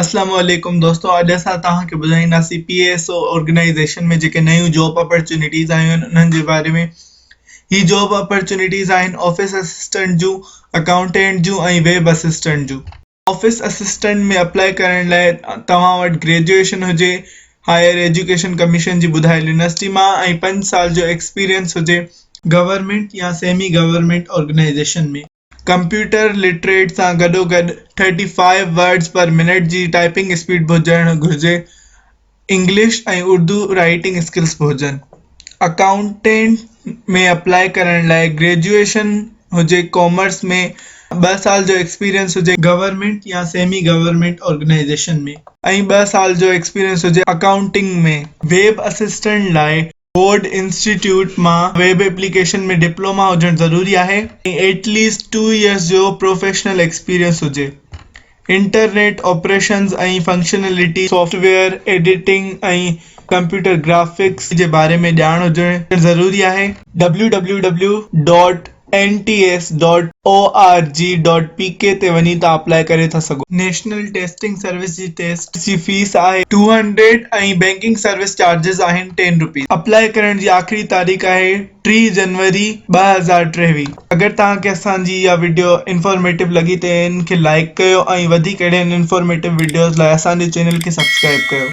اسلام عليڪم دوستو اڄ اسان توهان کي ٻڌائينداسين پي ايس او آرگنائيزيشن ۾ جيڪي نيون جاب اپرچونٽيز آيون آهن انهن جي باري ۾ هي جاب اپرچونٽيز آهن آفيس اسسٽنٽ جون اڪائونٽنٽ جون ۽ ويب اسسٽنٽ جون آفيس اسسٽنٽ ۾ اپلاء ڪرڻ لاء توهان وٽ گريجوئيشن هجي هائير ايجوڪيشن ڪميشن جي ٻڌايل يونيورسٽي مان ۽ 5 سال جو ايڪسپيريئنس هجي گورنمينٽ يا semi government organisation ۾. Computer literate سان گڏوگڏ 35 ورڊز پر منٽ جي ٽائپنگ اسپيڊ به هجڻ گهرجي انگلش ۽ اردو رائٽنگ اسڪلس به هجن اڪائونٽنٽ ۾ اپلائي ڪرڻ لاءِ گريجوئيشن هجي ڪامرس ۾ 2 سال جو ايڪسپيريئنس هجي گورنمينٽ يا سيمي گورنمينٽ آرگنائيزيشن ۾. ۽ 2 سال جو ايڪسپيريئنس هجي اڪائونٽنگ ۾. ويب اسسٽنٽ لاءِ فورڊ انسٽيٽيوٽ مان ويب ايپليڪيشن ۾ ڊپلوما هجڻ ضروري آهي ۽ ائٽ ليسٽ 2 ييئرس جو پروفيشنل ايڪسپيرينس هجي internet operations ۽ functionalities software editing ۽ computer graphics جي باري ۾ ڄاڻ هجڻ ضروري آهي N T S dot O R G dot P K تي وڃي توهان اپلائي ڪري ٿا سگهو. نيشنل ٽيسٽنگ سروس جي ٽيسٽ جي فيس آهي two hundred ۽ banking service charges آهن ٽين روپيز. اپلائي ڪرڻ جي آخري تاريخ آهي ٽيهه جنوري ٻه هزار ٽيويهه. اگر توهان کي اسان جي اها وڊيو انفارميٽو لڳي ته ان کي لائيڪ ڪيو ۽ وڌيڪ اهڙين انفارميٽو وڊيوز لاء اسان جي چينل کي سبسڪرائيب ڪيو.